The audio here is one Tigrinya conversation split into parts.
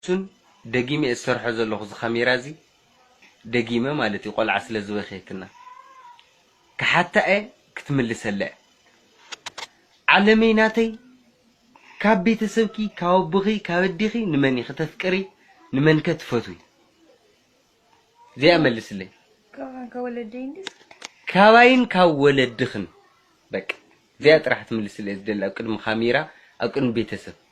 ሱን ደጊመ እየ ዝሰርሖ ዘለኹ እዚ ካሜራ እዚ ደጊመ ማለት እዩ ቆልዓ ስለ ዝበከየትና ክሓታ እየ ክትምልሰላ እያ ዓለመይ ናተይ ካብ ቤተሰብኪ ካብ ኣቦኺ ካብ ኣዴኺ ንመን ኢኺ ተፍቅሪ ንመን ከ ትፈትዊ እዚኣ መልስለይ ካብን ካብ ወለደይ እንድዩ ካባይን ካብ ወለድኽን በቃ እዚኣ ጥራሕ ክትምልስለይ እየ ዝደሊ ኣብ ቅድሚ ካሜራ ኣብ ቅድሚ ቤተሰብ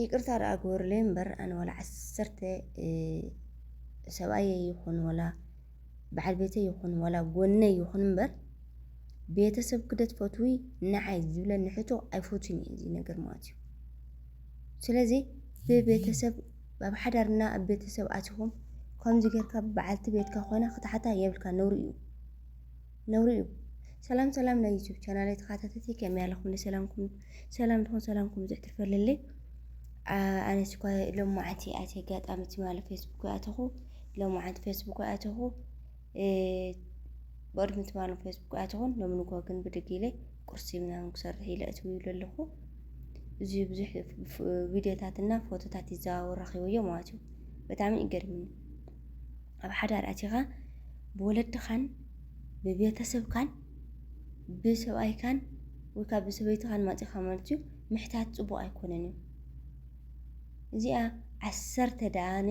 ይቅርታ ደኣ ግበሩለይ እምበር ኣነ ዋላ ዓሰርተ ሰብኣየይ ይኹን ዋላ በዓል ቤተይ ይኹን ዋላ ጎነይ ይኹን እምበር ቤተሰብ ክደት ፈትዊ ንዓይ ዝብለኒ ሕቶ ኣይፈቱን እዩ እዚ ነገር ማለት እዩ ስለዚ ብቤተሰብ ኣብ ሓዳርና ኣብ ቤተሰብ ኣትኹም ከምዚ ጌርካ በዓልቲ ቤትካ ኮይና ክትሓታ የብልካ ነውሪ እዩ ነውሪ እዩ። ሰላም ሰላም ናይ ዩቱብ ቻናለይ ተኻታተቲ ከመይ ኣለኹምኒ ሰላምኩም ሰላም ድኹም ሰላምኩም ብዙሕ ትርፈልለይ ኣነ ስኳ ሎም መዓልቲ ኣቲ ኣጋጣሚ ትማሊ ፌስቡክ ኣተኹ ሎም መዓልቲ ፌስቡክ ኣተኹ ብቅድሚ ትማሊ ፌስቡክ ኣተኹን ሎም ንጎ ግን ብድግ ኢለ ቁርሲ ምናምን ክሰርሕ ኢለ እትው ይብሉ ኣለኹ እዚ ብዙሕ ቪድዮታትና ፎቶታት ይዘዋወር ረኺበዮ ማለት እዩ ብጣዕሚ ይገርምኒ ኣብ ሓዳር ኣቲኻ ብወለድኻን ብቤተሰብካን ብሰብኣይካን ወይ ከዓ ብሰበይትኻን ማፂኻ ማለት እዩ ምሕታት ፅቡቕ ኣይኮነን እዩ እዚኣ ዓሰርተ ደኣነ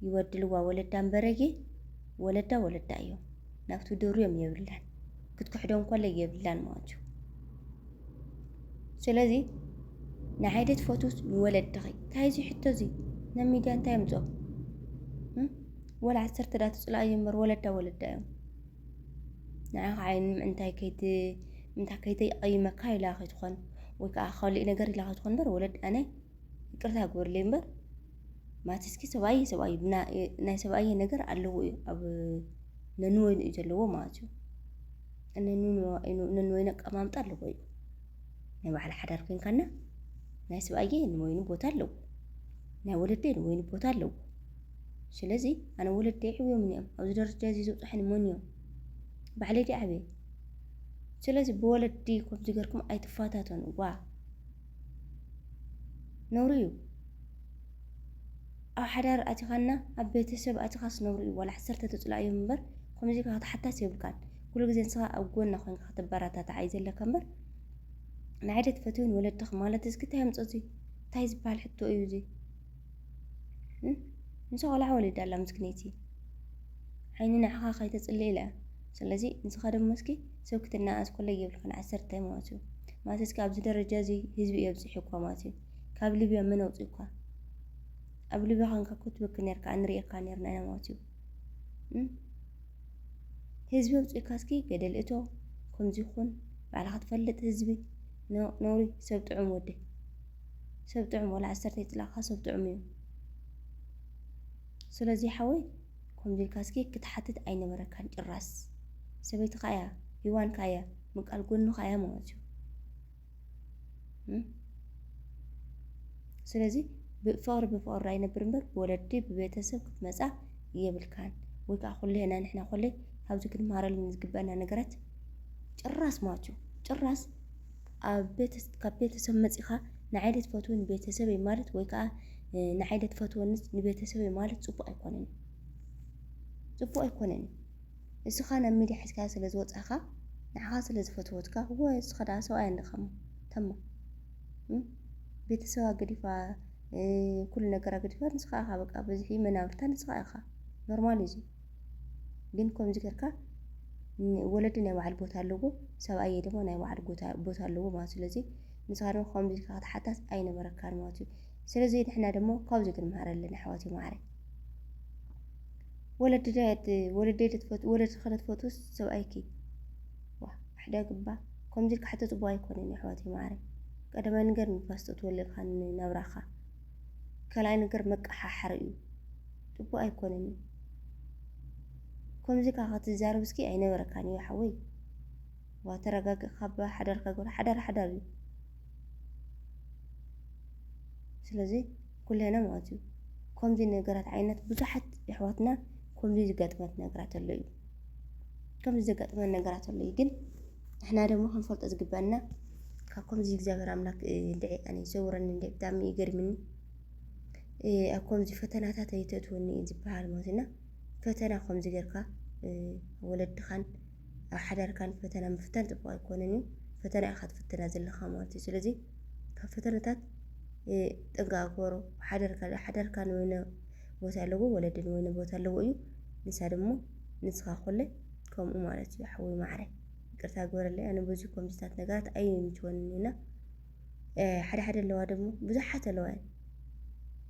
ይወድልዋ ወለዳ እምበረጊ ወለዳ ወለዳ እዮም ናብቲ ድሩ እዮም የብላን ክትክሕዶ እንኮለ የብላን ማለት እዩ ስለዚ ንሓይደ ትፈትውስ ንወለድኺ እንታይ እዚ ሕቶ እዚ ናብ ሚድያ እንታይ ምፆ ወላ ዓሰርተ ዳ ትፅላ እዩ እምበር ወለዳ ወለዳ እዮም ንዓኻ ዓይን ምእንታይ ከይት ምንታይ ከይተይቐይመካ ኢላ ከይትኾን ወይ ከዓ ካልእ ነገር ኢላ ከይትኾን እምበር ወለድ ኣነ ይቅርታ ግበርለይ እምበር ማቲስኪ ሰብኣይ እዩ ሰብኣይ እዩ ብና- እ- ናይ ሰብኣየ ነገር ኣለዎ እዩ ኣብ ነንወይኑ እዩ ዘለዎ ማለት እዩ ነንወይኑ ነንወይኑ ኣቀማምጣ ኣለዎ እዩ ናይ ባዕላ ሓዳር ኮይንካና ናይ ሰብኣየ ንወይኑ ቦታ ኣለዎ ናይ ወለደይ ንወይኑ ቦታ ኣለዎ ስለዚ ኣነ ወለደይ ዕብዮምን እዮም ኣብዚ ደረጃ እዚ ዘብፅሐኒ መን እዮም ባዕለይ ድየ ዓብየ ስለዚ ብወለዲ ከምዚ ገርኩም ኣይትፈታተኑ ዋ ነውሪ እዩ ኣብ ሓዳር ኣቲኻና ኣብ ቤተሰብ ኣቲኻስ ነውሪ እዩ ዋላ ዓሰርተ ተፅልኣ እዮም እምበር ከምዚ ኢልካ ክትሓታስ የብልካን ኩሉ ግዜ ንስኻ ኣብ ጎና ኮይንካ ከተበረታታዕ እዩ ዘለካ እምበር ንዓይ ዶ ትፈትውን ወለድኽ ማለት እዚክ እንታይ ኣምፆ እዚ እንታይ ዝበሃል ሕቶ እዩ እዚ ንሳ ቆልዓ ወሊዳ ኣላ ምስክነይቲ ዓይኒ ንዓኻ ከይተጽሊ ኢለ ስለዚ ንስኻ ደሞ እስኪ ሰብ ክትናኣስ ኮሎ ይብልካ ንዓሰርተ ማለት እዩ ማለት እስኪ ኣብዚ ደረጃ እዚ ህዝቢ እዮ ኣብጽሒኳ ማለት እዩ ካብ ሊብያ መን ኣውጺእኳ ኣብ ሊብያ ኻንካ እኮ ትበኪ ነርካ ኣንርእየካ ነርና ኢና ማለት እዩ ህዝቢ ኣውጺእካ እስኪ ገደል እቶ ከምዚ ኹን ባዕልኻ ትፈልጥ ህዝቢ ነውሪ ሰብ ጥዑም ወዲ ሰብ ጥዑም ወላ ዓሰርተ ይጥላካ ሰብ ጥዑም እዩ ስለዚ ሓወይ ከምዚ ኢልካ እስኪ ክትሓትት ኣይነበረካን ጭራስ ሰበይትካ እያ ሂዋንካ እያ ምቃል ጎንካ እያ ማለት እዩ ስለዚ ብፍቕሪ ብፍቕሪ ኣይነብር እምበር ብወለዲ ብቤተሰብ ክትመፃ የብልካን ወይ ከዓ ኩሌና ንሕና ኮለይ ካብዚ ክንመሃረሉ ዝግበአና ነገራት ጭራስ ማለት እዩ ጭራስ ኣብ ካብ ቤተሰብ መጺኻ ንዓይ ዶ ትፈትዉ ንቤተሰበይ ማለት ወይ ከዓ ንዓይ ዶ ትፈትወኒ ንቤተሰበይ ማለት ፅቡቕ ኣይኮነን ፅቡቕ ኣይኮነን እዩ። እስኻ ናብ ሚድያ ሒዝካ ስለ ዝወፃኻ ንዓኻ ስለ ዝፈትወትካ እወ እስኻ ደኣ ሰብኣይ ኣለካ እሞ ተማ ቤተሰባ ገዲፋ ኩሉ ነገራ ገዲፋ ንስኻ ኢኻ በቃ ብዝሒ መናብርታ ንስኻ ኢኻ ኖርማል እዩ እዚ። ግን ከምዚ ጌርካ ወለዲ ናይ ባዕሉ ቦታ ኣለዎ፣ ሰብኣየ ድማ ናይ ባዕሉ ቦታ ኣለዎ ማለት ስለዚ ንስኻ ድማ ከምዚ ኢልካ ክትሓታት ኣይነበረካን ማለት እዩ። ስለዚ ንሕና ድማ ካብዚ ክንምሃር ኣለና ኣሕዋት ማዕረ ወለዲ ወለዲ ትፈት ወለዲ ከነትፈትስ ሰብኣይኪ ዋ ሕደ ግባ ከምዚ ኢልካ ሕቶ ጽቡቅ ኣይኮነን ኣሕዋት ማዕረ ቀደማይ ነገር ንፋስ ተትወልልካ ናብራኻ ካልኣይ ነገር መቀሓሓሪ እዩ ፅቡቅ ኣይኮነን እዩ ከምዚ ካዓ ክትዛረብ እስኪ ኣይነበረካን እዩ ሓወይ እባ ተረጋግእ ካባ ሓዳርካ ግበር ሓዳር ሓዳር እዩ ስለዚ ኩልና ማለት እዩ ከምዚ ነገራት ዓይነት ብዙሓት የሕዋትና ከምዚ ዘጋጥመት ነገራት ኣሎ እዩ ከምዚ ዘጋጥመን ነገራት ኣሎ እዩ ግን ንሕና ደሞ ክንፈልጦ ዝግበአና ካብ ከምዚ እግዚኣብሔር ኣምላክ እንድዒ ኣነ ይሰውረኒ እንደ ብጣዕሚ እዩ ገርምኒ ኣብ ከምዚ ፈተናታት ኣይተእትወኒ እዩ ዝበሃል ማለት እና ፈተና ከምዚ ጌርካ ወለድኻን ኣብ ሓዳርካን ፈተና ምፍታን ፅቡቅ ኣይኮነን እዩ ፈተና ኢኻ ትፍትና ዘለኻ ማለት እዩ ስለዚ ካብ ፈተነታት ጥንቃ ግበሮ ሓደርካ ሓደርካ ንወይነ ቦታ ኣለዎ ወለድን ወይነ ቦታ ኣለዎ እዩ ንሳ ደሞ ንስኻ ኮለ ከምኡ ማለት እዩ ሓወይ ማዓረይ ይቅርታ ግበረለይ ኣነ በዚ ከምዚታት ነገራት ኣይምችወንን እዩ እና ሓደ ሓደ ኣለዋ ደሞ ብዙሓት ኣለዋ እየን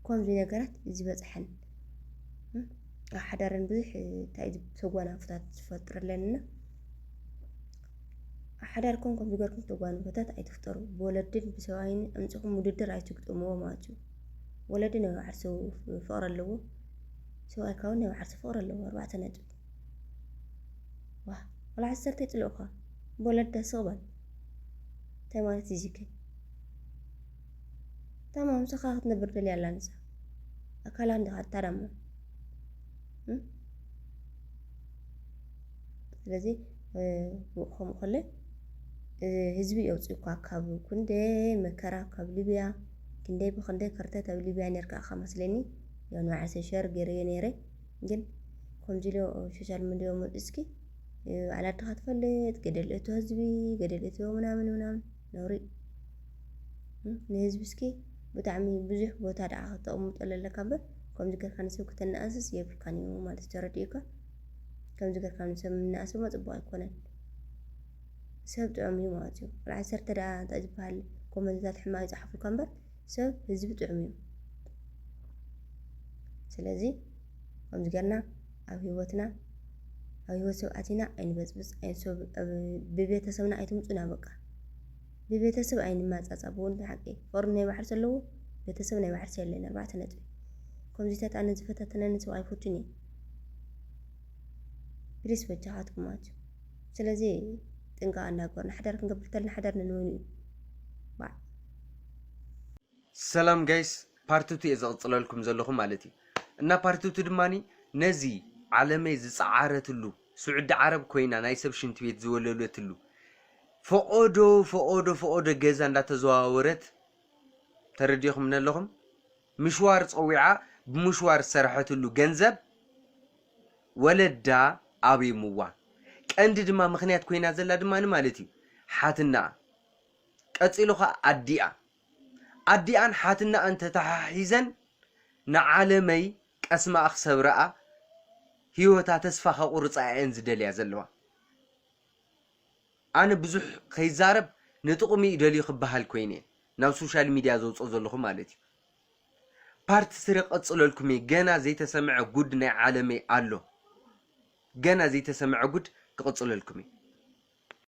ከምዚ ነገራት ዝበፅሐን ኣብ ሓዳረን ብዙሕ እንታይ ተጓናፎታት ዝፈጥረለን እና ኣብ ሓዳርኩም ከምዚ ገርኩም ተጓንፎታት ኣይትፍጠሩ ብወለድን ብሰብኣይን ኣምፅኹም ውድድር ኣይትግጥምዎ ማለት እዩ ወለዲ ናይ ባዕርሱ ፍቕሪ ኣለዎ ሰብኣይካ እውን ናይ ባዕርሱ ፍቕሪ ኣለዎ ኣርባዕተ ነጥቢ ዋህ ወላ ዓሰርተ ይጽልኡካ ቦለደ ስቅ በል እንታይ ማለት እዩ እዚከ ታማ ምሳካ ክትነብር ደልያ ኣላ ንሳ ኣካላ እንዲካ እታዳማ ስለዚ ከምኡ ከለ ህዝቢ የውፅእኳ ካብ ክንደይ መከራ ካብ ሊብያ ክንደይ ብክንደይ ከርተት ኣብ ሊብያ ነርካ ኢኻ መስለኒ ያው ንባዕሰ ሸር ገይረዮ ነይረ ግን ከምዚ ኢሉ ኣብ ሶሻል ሚድዮ መፂኡ እስኪ ባዕላ ዓድኻ ትፈልጥ ገደል እቶ ህዝቢ ገደል እቶ ምናምን ምናምን ነውሪ እዩ። ንህዝቢ እስኪ ብጣዕሚ ብዙሕ ቦታ ደኣ ከተቕምጠሉ ኣለካ እምበር ከምዚ ጌርካ ንሰብ ክተነኣእስስ የብልካን እዩ ማለት እዩ ተረዲኡካ። ከምዚ ጌርካ ንሰብ ምንእኣስ ድማ ፅቡቕ ኣይኮነን። ሰብ ጥዑም እዩ ማለት እዩ። ዓሰርተ ደኣ እንታይ ዝበሃል ኮመንትታት ሕማቕ ይፅሓፉልካ እምበር ሰብ ህዝቢ ጥዑም እዩ። ስለዚ ከምዚ ጌርና ኣብ ህይወትና ኣብ ህይወት ሰብ ኣቲና ኣይንበፅብፅ፣ ብቤተሰብና ኣይትምፁና በቃ ብቤተሰብ ኣይንማፃፃ ብወንድ ሓቂ ፈርድ ናይ ባሕርሲ ኣለዎ ቤተሰብ ናይ ባሕርሲ የለን ኣርባዕተ ነጥቢ ከምዚታት ኣነ ዝፈታተነኒ ሰብ ኣይፈቱን እየ ፕሊስ በጃኻትኩም ኣትዩ ስለዚ ጥንቃቐ እንዳገበርና ሓዳር ክንገብር ተለና ሓዳር ነንበይኑ እዩ ባዕ ሰላም ጋይስ ፓርትቱ እየ ዘቕፅለልኩም ዘለኹ ማለት እዩ እና ፓርትቱ ድማኒ ነዚ ዓለመይ ዝፀዓረትሉ ስዑዲ ዓረብ ኮይና ናይ ሰብ ሽንት ቤት ዝወለለትሉ ፈቐዶ ፈቐዶ ፈቐዶ ገዛ እንዳተዘዋወረት ተረዲኹም ኣለኹም ምሽዋር ፀዊዓ ብምሽዋር ዝሰረሐትሉ ገንዘብ ወለዳ ኣብይምዋ ቀንዲ ድማ ምክንያት ኮይና ዘላ ድማ ማለት እዩ ሓትናኣ ቀጺሉ ኸኣ ኣዲኣ ኣዲኣን ሓትነኣን ተተሓሒዘን ንዓለመይ ቀስማኣ ክሰብራኣ ሂወታ ተስፋ ከቁርጻ ኢየን ዝደልያ ዘለዋ ኣነ ብዙሕ ከይዛረብ ንጥቅሙ ኢዩ ደልዩ ክበሃል ኮይነ ናብ ሶሻል ሚድያ ዘውጾ ዘለኹ ማለት ኢዩ ፓርት ስሪ ክቅጽለልኩም ኢየ ገና ዘይተሰምዐ ጉድ ናይ ዓለመይ ኣሎ ገና ዘይተሰምዐ ጉድ ክቅጽለልኩም ኢየ።